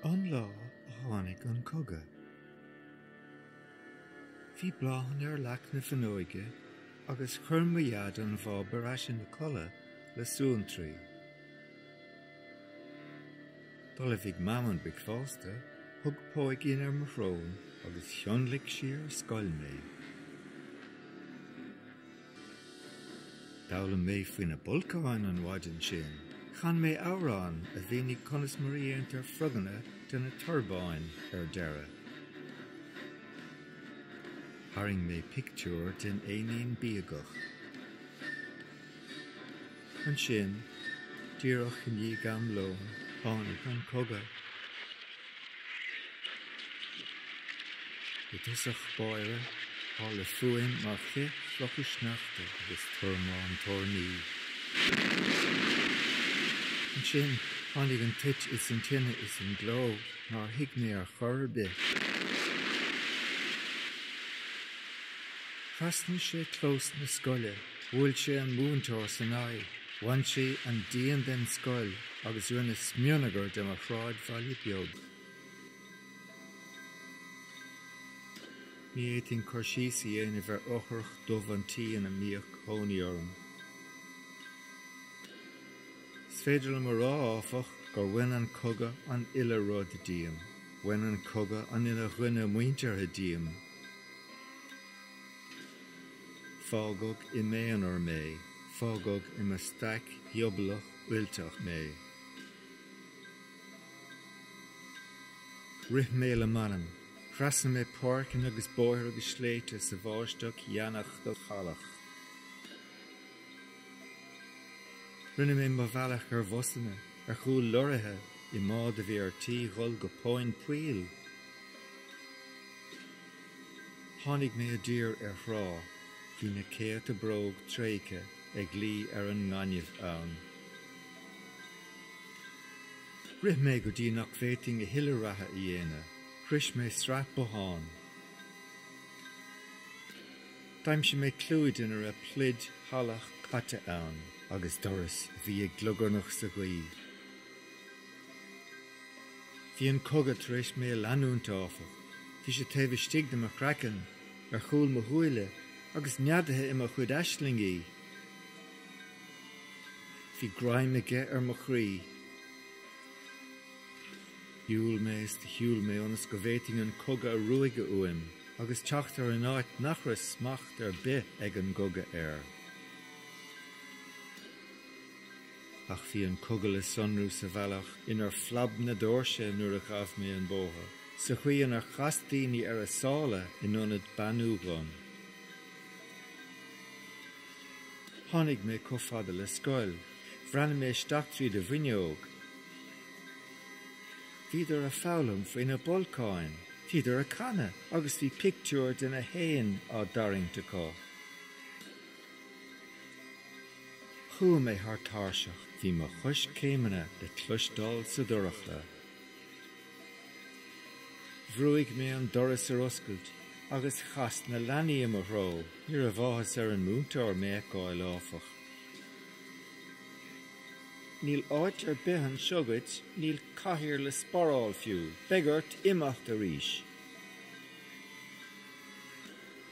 An lá a tháinig an cogadh. Bhí bláthanna ar leac na fuinneoige agus chuir mo Dhaid an bháb ar ais ina codladh le suantraí. D'ullmhaigh Mam an bricfeasta, thug póigín ar mo shrón agus thionlaic sí ar scoil mé. D'fhoghlaim mé faoi na bolcáin an mhaidin sin. Chan mé amhrán a mhínigh conas mar a dhéantar froganna de na torbáin ar deireadh. Tharraing mé pictiúr den éinín bíogach. Ansin, díreach i ndiaidh am lóin, tháinig an cogadh. I dtosach báire, tharla fuaim mar chith clocha sneachta agus tormán toirní. Ansin, tháinig an toit is an tine is an gleo nár thuig mé ar chor ar bith. Thrasnaigh sé clós na scoile. Bhuail sé an múinteoir san aghaidh, bhain sé an díon den scoil agus rinne smionagar de mo shráidbhaile beag. Ní fhéadfainn cur síos a dhéanamh ar fhothrach dubh an tí ina mbíodh cónaí orm. Is féidir liom a rá, áfach, gur bhain an cogadh an uile rud díom. Bhain an cogadh an uile dhuine muinteartha díom. Fágadh i m'aonar mé, fágadh i mo staic ghiobalach fhuilteach mé. Rith mé le m'anam. Thrasnaigh mé páirceanna agus bóithre agus sléibhte sa bháisteach dheannach shalach. Rinne mé mo bhealach ar bhusanna, ar chúl lorraithe, i mbád a bhí ar tí dhul go tóin poill. Tháinig mé i dtír ar thrá. Bhí na céadta bróg tréigthe ag luí ar an ngaineamh ann. Rith mé go dtí nach bhféadfainn a thuilleadh reatha a dhéanamh. Shroich mé sraith bothán. D'aimsigh mé clúid ina raibh pluid shalach caite ann. Agus doras a bhí ag glugarnach sa ghaoth. Bhí an cogadh tar éis mé a leanúint, áfach. Bhí sé taobh istigh de mo chraiceann, ar chúl mo shúile, agus neadaithe i mo chuid aislingí. Bhí greim aige ar mo chroí. Shiúil mé is do shiúil mé ionas go bhféadfainn an cogadh a ruaigeadh uaim agus teacht ar an áit nach raibh smacht ar bith ag an gcogadh air. Ach bhí an cogadh le sonrú sa bhealach inar phlab na doirse nuair a ghabh mé an bóthar, sa chaoi inar chas daoine ar a sála in ionad beannú dhom. Tháinig mé chomh fada le scoil. Bhreathnaigh mé isteach tríd an bhfuinneog. Bhíodar ag foghlaim faoi na bolcáin, bhíodar ag canadh agus bhí pictiúir de na héin á dtarraingt acu. Chuaigh mé thar tairseach. Bhí mo choiscéimeanna le cloisteáil sa dorchla. Bhrúigh mé an doras ar oscailt agus chas na leanaí i mo threo. Ní raibh áthas ar an múinteoir mé a fheiceáil, áfach. Níl áit ar bith anseo duit, níl cathaoir le sparáil fiú. Beidh ort imeacht arís.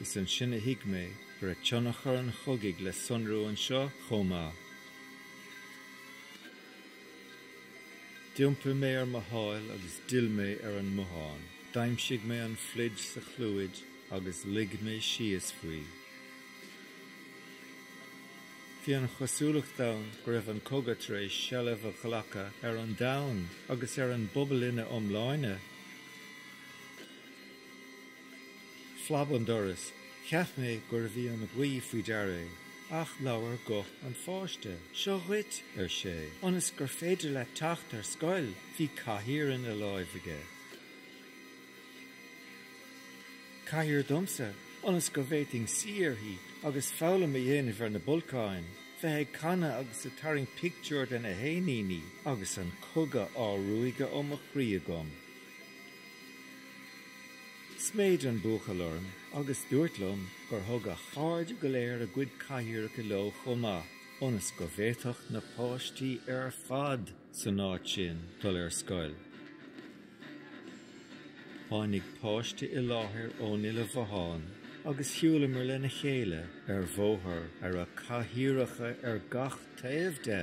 Is ansin a thuig mé go raibh tionchar an chogaidh le sonrú anseo chomh maith. D'iompaigh mé ar mo sháil agus d'fhill mé ar an mbothán. D'aimsigh mé an phluid sa chlúid agus luigh mé síos faoi. Bhí an chosúlacht ann go raibh an cogadh tar éis seilbh a ghlacadh ar an domhan agus ar an bpobal ina iomláine. phlab an doras, cheap mé gurbh í an ghaoth faoi deara é, ach labhair guth páiste, Seo dhuit, ar sé, ionas gur féidir leat teacht ar scoil! Bhí cathaoir ina lámh aige. Cathaoir domsa, ionas go bhféadfainn suí uirthi agus foghlaim a dhéanamh ar na bolcáin, bheith ag canadh agus ag tarraingt pictiúr de na héiníní agus an cogadh á ruaigeadh ó mo chroí agam. Sméid an buachaill orm agus dúirt liom gur thug a chairde go léir a gcuid cathaoireacha leo chomh maith, ionas go bhféadfadh na páistí ar fad san áit sin dul ar scoil. Tháinig páiste i láthair ón uile bhothán agus shiúlamar lena chéile ar bhóthar a raibh cathaoireacha ar gach taobh de!